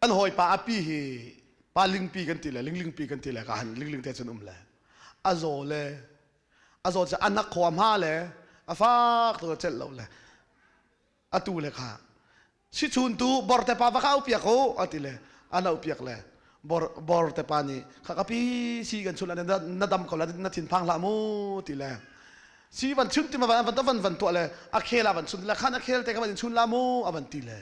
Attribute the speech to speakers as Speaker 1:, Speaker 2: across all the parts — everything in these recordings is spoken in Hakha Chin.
Speaker 1: an hawipa a pi hi pa lingpi kan ti le linglingpi kan ti le ka han lingling te cun um le a zaw le a zaw cu anak khua hma le a fak tu celh lo le atu le kha si chun tu bor te pa va kha upiak u a ti le ana upiak le bor bor te pa nih kha ka pi si kan chun na dam ko la na thin phang la mu ti le si van chun ti ma van van van van tuah le a khela van chun le khan a khel te ka van chun la mu a van ti le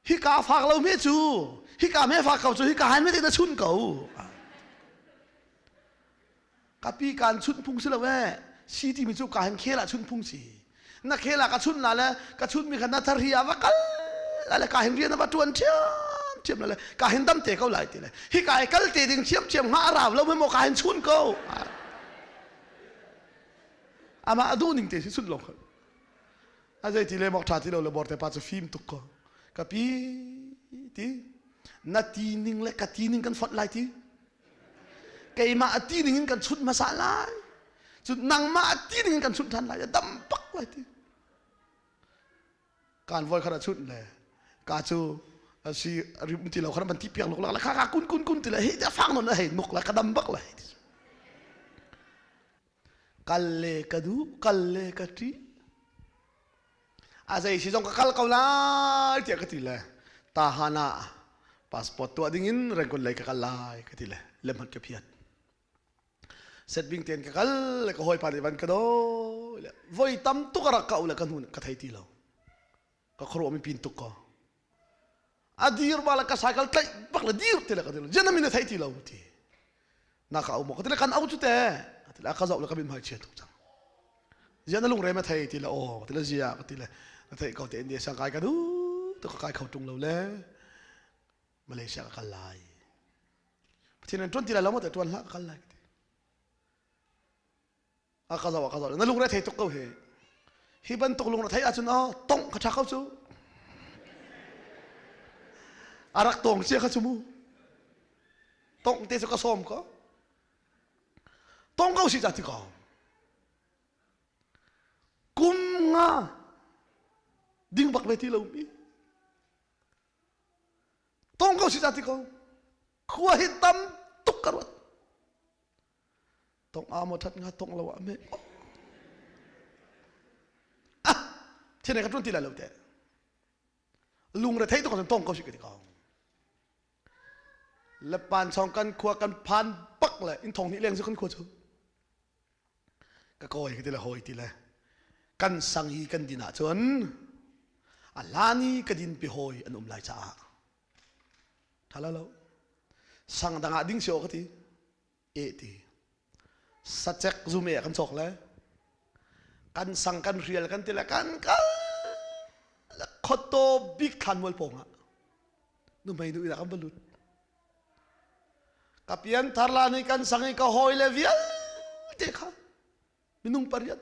Speaker 1: Hika fak lo me cu hika me fak ko cu hika han me na chun ko ka pi kan chun phung si lo eh city mi cu ka han khela chun phung si na khela ka chun la le ka chun mi khan na thar hi a va kal le ka hin rian a va tuan thiam thiam le ka hin dam te ko lai ti le hi ka ai kal te ding thiam thiam nga raw lo me mo ka hin chun ko ama adu ning te si chun lo a zei ti le mok tha ti lo le bor te pa cu fim tuk ko ka pi ti na ti ning le ka ti ning kan fot lai ti keimah a ti ning in kan chut hmasa lai cu nangmah a ti ning in kan chut than lai a dam pak lai ti kan voi khara chut le ka cu asi rim ti lo khara ban ti piak lok la kha ka kun kun kun ti le he ta fang non le he nok la ka dam bak la he Kal le ka duh, kal le ka ṭih. A zei si zong ka kal ko lai tiah ka ti le tahan ah passport tuah ding in rangon lei ka kal lai ka ti le lemhat ka phiat. Set bing ten ka kal le ka hawi pa nih van ka do le voi tam tuk a rak ka u le ka nu ka thei ti lo. Ka khuaruah mi pin tuk ko. a dir ba le ka cycle tlaih bak le dir te le ka dir jian mi na thei ti lo ti na ka um ka ti le kan au cu te a ti le a ka zau le ka bim hai chia tuk cang jian na lung re ma thei ti le aw ka ti le zia ka ti le na thei ko te india sang kai ka du to ka kai kho tung lo le malaysia ka kal lai pathian an tuan ti la lo mo te tuan la ka kal lai ka ti a ka lo a ka lo na lungre thei tuk ko he hi bantuk lungre thei ahcun oh tongh ka tha ko cu a rak tong cia kha cu mu tongh te cu ka som ko tong ko si ca ti ko kum nga ding bak ve ti lo mi tong ko si ca ti ko khua hi tam tuk ka ruat Tong a maw that nga tong lo ah me ah thine ka tun ti la lo te lung re thei to ko tong ko shi ka ti ko le pan song kan khua kan phan pak le in thong ni leng su kan khua chu ka koi ka ti la hoi ti le kan sang hi kan din ah chun a lani ka din pi hoi an um lai caah tha lo lo sang dang ah ding sio ka ti ehti sacek zum e kan chok le kan sang kan rial kan ti le kan ka le khotto bik thlan mual pong ah nu mei nu ina kan va lut ka pian thar la ni kan sang i ka hoi le vial te kha minung pariat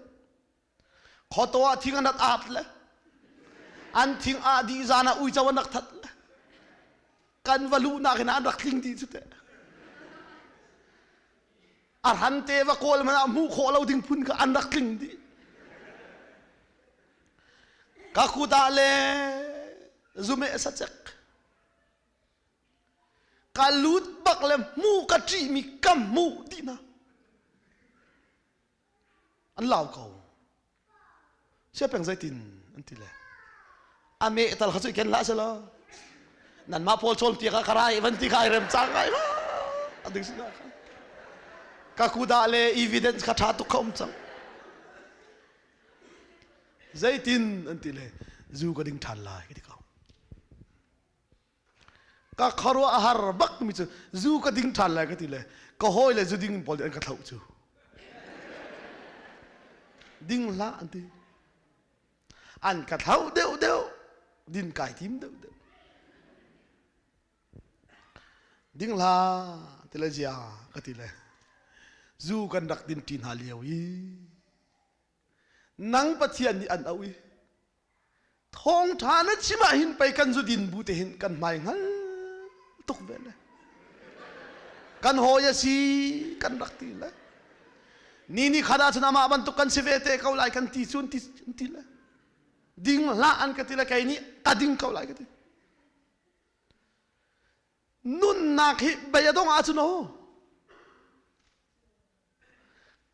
Speaker 1: Khoto ah thing anak ahat le an thing ah dih zan ah uico anak that le kan va luhnak in an rak tling dih cu teh a ran te va kawl man ah hmuh khawh lo ding phun ka an rak tling dih ka kut ah le zume sacek ka lut bak le mu ka ṭih mi kam mu ti na an lau ko sia peng zeitin an ti le a me tal kha cu ken la se lo nan mah paul chol tia ka karai van ti kai rem chang ngai la ading sina ka ka kuda le evidence ka tha tuk kha um chang zeitin an ti le zu ka ding than lai ka ti ka ka khuaruah a har bakmi cu zu ka ding ṭhan lai ka ti le ka hawi le zu ding pawl nih an ka thlauh cu ding hlah an ti an ka thlauh deuh deuh din kai tim deuh deuh ding hlah ti le zia ka ti le zu kan rak din ṭi hna lio i nang pathian nih an auh i thawngṭha na chim ahhin pei kan zudin bu te hin kan hmai hngal tuk ve le kan hawi a si kan rak ti le ni ni khat ah cun amah bantuk kan si ve te ko lai kan ti cun ti an ti le ding hlah an ka ti le kei nih ka ding ko lai ka ti nunnak hi bei a dong ah cun o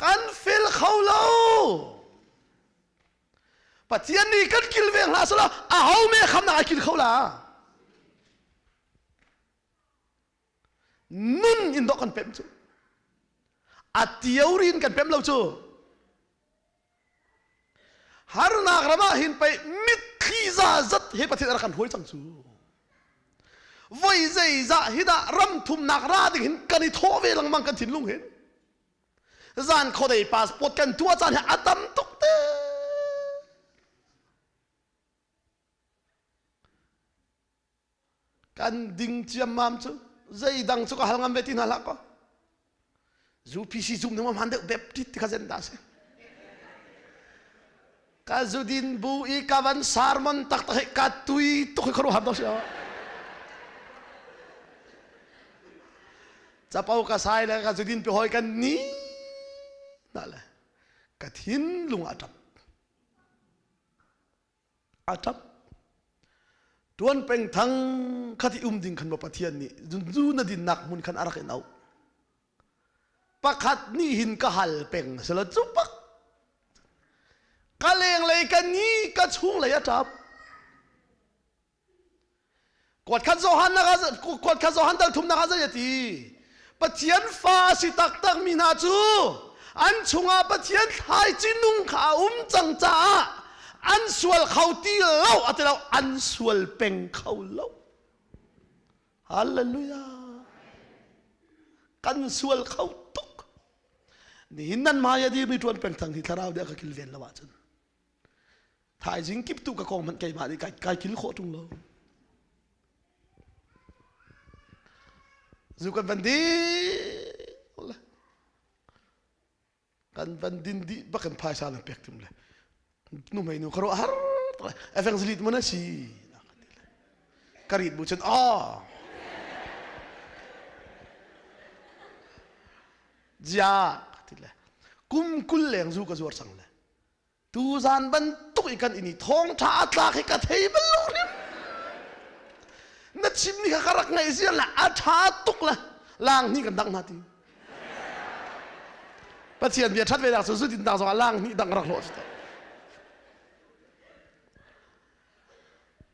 Speaker 1: kan fel kho lo pathian nih kan kil ve hna sala a ho me khamnak ai kil kho la nun in dok kan pem cu a tiorin kan pem lo cu harnak ram ah hin pei mitthli za zat hi pathian a rak kan hruai cang cu voi zeizah hi dah ram thumnak ra ding hin kan i thawh ve lengmang kan thinlung hin zan khuadei passport kan tua caan hi a tam tuk te kan ding ciammam cu zeidang cu ka hal ngam ve ti hna hlah kaw zupc zum ding man deuh bep tit ti kha zen da si ka zudin bu i kavan sermon tak tak he ka tui tuk hi kharu ham dong si capo ka sai le ka zudin pe hoi kan ni na le ka thin lung a tap a ṭap. Ṭuan pengthang khat i um ding khan maw Pathian nih zunzu na dinnak hmun khan a rak in auh. Pakhat nih hin ka hal peng sela cu pak ka lenglei ka ni ka chunglei a ṭap. Kuat khat Johan nak ah kuat khat Johan dal thum nak ah zei ati Pathian fa si taktak mi hna cu an chungah Pathian thlai cinung kha a um cang caah an sual kho ti lo atilo an sual peng kho lo Hallelujah kan sual kho tuk nihin nan ma ya di mi tuan peng thang hi thlarau dia ka kilven lawa cun Thaizing kip tu ka kong hmanh keimah nih kai, kai kil khawh ṭung lo. Zu kan van dih le kan van din dih bak in phaisa nan pek tim le nu mei nu ka ro har efeng zlit mun asi ka rit bu chen oh ja ti le kum kul leng zu ka zuar sang le Tuzan bantuk i kan ini thawngtha a tlak hi ka thei bal lo riam. Na chim ni kha ka rak ngaih zia la a tha tuk la lang ni kan dang na ti. Pathian bia that ve dak su su tin tak zong lang ni dang rak lo ta.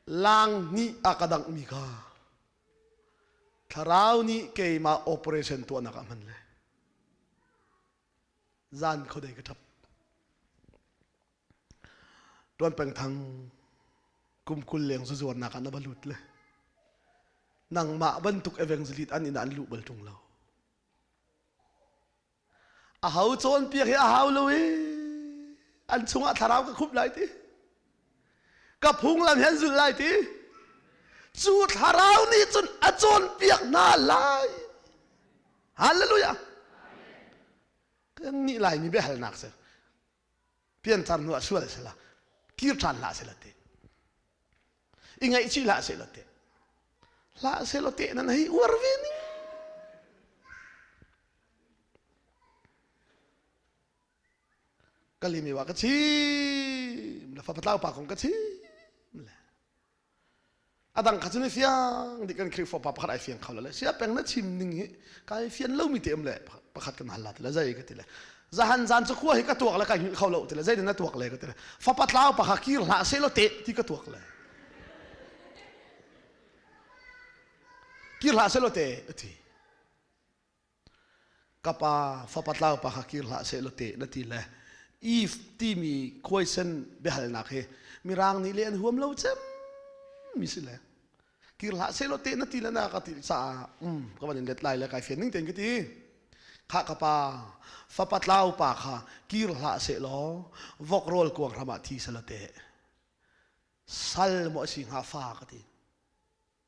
Speaker 1: Lang ni a ka dang mi kha thlarau nih keimah operation tuah nak ah hman le zan khodei ka ṭhap ṭuan peng thang kum kul leng zu zuarnak ah na va lut le nangmah bantuk evangelist an in an luh bal ṭung lo a hau cawnpiak hi a hau lo i an chungah thlarau ka khup lai ti ka phunglam hin zulh lai ti cu thlarau nih cun a cawnpiak hna lai halleluja kan nih lai mi biahalnak si piancar nu a sual si la kir ṭhan hlah si la ti i ngaihchih hlah si la ti hlah si la ti nan hei uar ve ning ka lim i wa ka chim na fa patlau pa kong ka chim le adang kha chun i fiang di kan khri fo pa pakhat ai fiang khau le sia peng na chim ning hi kai fian lo mi te am le pakhat kan halla te le zai ka ti le zahan zan chu khua hi ka tuak le kai hil khau lo te le zai na tuak le ka ti le fa patlau pa kha kir hla se lo te ti ka tuak le kir hla se lo te ti ka pa fapa tlaupa kha kir hlah seh law te na ti le Eve timi khuaisen biahalnak hi mirang nih le an huam lo cem mi si le kir hlah seh law te na ti le na ka ti caah um ka van in let lai le kai fian ning ten ka ti kha ka pa fapa tlaupa kha kir hlah seh law vok rawl kuang ram ah thi sala te sal mo si nga fa ka ti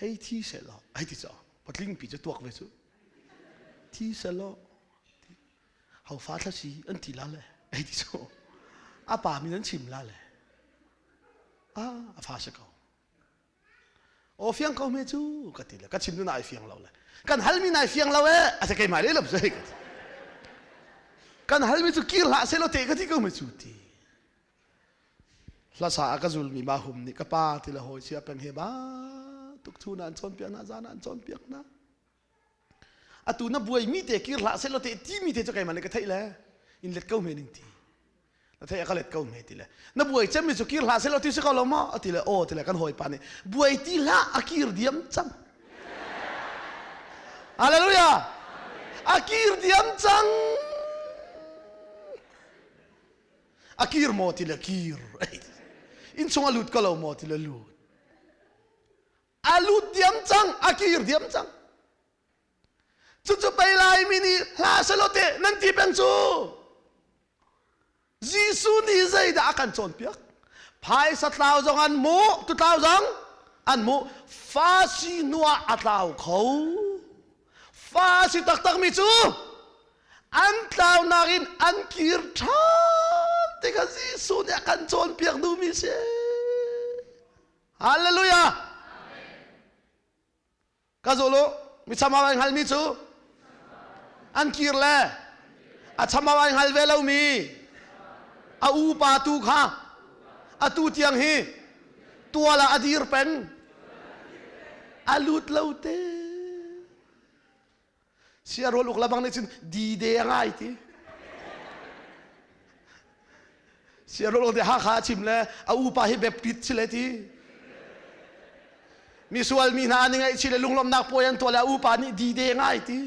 Speaker 1: hei thi sehlaw, hei ti caw, patlingpi cu tuak ve cu, thi sehlaw, hau fa thlasi an ti la le, hei ti caw, a pa min an chim la le, a, a fa se ko. Aw fiang ko me cu, ka ti le, ka chim nu nai fiang lo le, kan halmi nai fiang lo e, a se keimai le lop zei ka ti. Kan halmi cu kir hlah sehlaw te ka ti ko me cu ti. hlasa a ka zulmi ma hum nih ka pa ti le hawi chia peng he ba tuk thu na an cawnpiak na zan an cawnpiak na atu na buai mi te kir hlah sel te ti mi te cha keima le ka thei le in let ko me ning ti na thei ka let ko me ti le na buai chem mi su kir hlah sel ti se ko lo mo ti le o ti le kan hoi pa ni buai ti hla a kir diam cham hallelujah a kir diam chang a kir maw ti le kir inn chung a lut ko lo maw ti le lut a lut diam cang a kir diam cang cucu pei laimi nih hla selaw te nan ti peng cu Jesuh nih zeidah a kan cawnpiak phaisa tlau zong an mu tu tlau zong an mu fa si hnuah a tlau kho fa a si taktakmi cu an tlaunak in an kir ṭhan tikah Jesuh nih a kan cawnpiak duhmi a si. Hallelujah! Ka zul u, mi chamau ai hngalmi cu an kir le a chamau ai hngal ve lomi a upa tu kha atu tiang hi tual ah a dir peng a lut lo te sia rol uk labang nih cun di de ngai ti sia rol uk de hakha a chim le a upa hi baptist si le ti misual mi hna an i ngaih chi le lunglawmnak puai an tuah le a upa nih di de ngai ti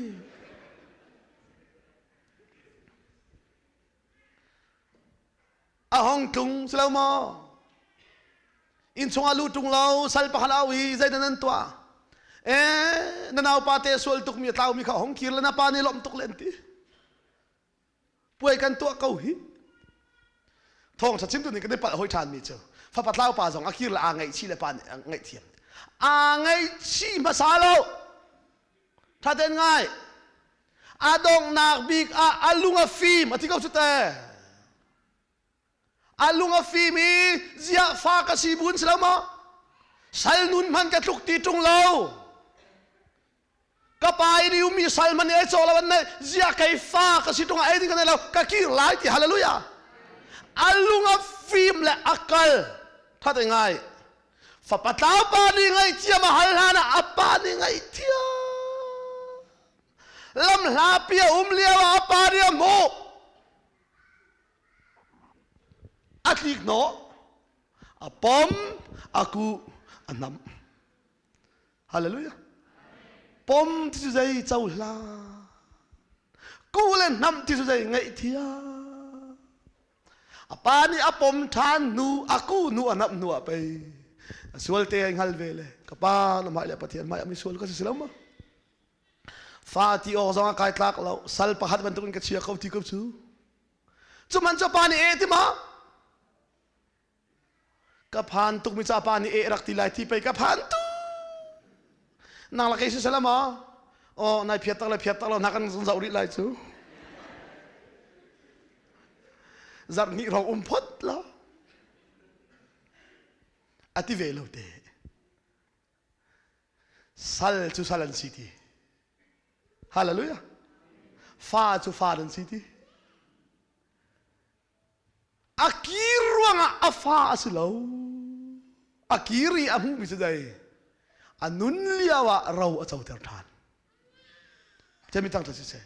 Speaker 1: a hong tlung si lo maw innchung ah lu tlung lo sal pahal au i zeidan an tuah eh na naupa te sual tukmi a tlau mi kha hong kir le na pa nih lawmh tuk len ti puai kan tuah ko hi thawngsa chimtu nih kan i palh hoi ṭhan mi cu fapa tlau pa zong a kir le aa ngaihchi le pa nih a ngaih thiam aa ngaihchi hmasa lo thaten ngai a donghnak bik ah a lung a fim a thi ko cu te a lung a fim i ziah fa ka si buin si lo maw sal nun hman ka tluk ti tung lo ka pai riu mi sal man ei chaw lawan nei zia kai fa ka si tung ai ding ka nei lo ka kir lai ti hallelujah a lung a fim le a kal that ngai fapa tlaupa nih ngaihthiam a hal hlan ah a pa nih ngaihthiam lam hlapi a um lio ah a pa nih a hmuh a tlik hnawh a pom a ku a nam hallelujah pom ti cu zei cohlan kuh le hnamh ti cu zei ngaihthiam a pa nih a pom ṭhan hnu a ku hnu a nap hnu ah pei a sualte ai hngal ve le ka pa na mah le pathian mah mi sual ka si lo ma fa ti awk zong a kai tlak lo sal pakhat bantuk in ka chia ko ti ko cu cuman cu pa nih e ti ma ka phan tukmi capa nih eh rak ti lai ti pei ka phan tuk nang la kei si sala ma oh nai phiat tak le phiat tak lo nak kan zoh rih lai cu zarh hnih rong um phot la a ti ve lo te sal cu sal an si ti hallelujah fa cu fa an si ti A kir ruangah a fa a si lo. A kir i a hmuhmi si dei. A nun lio ah ro a coter ṭhan. Cemi tang cu si seh.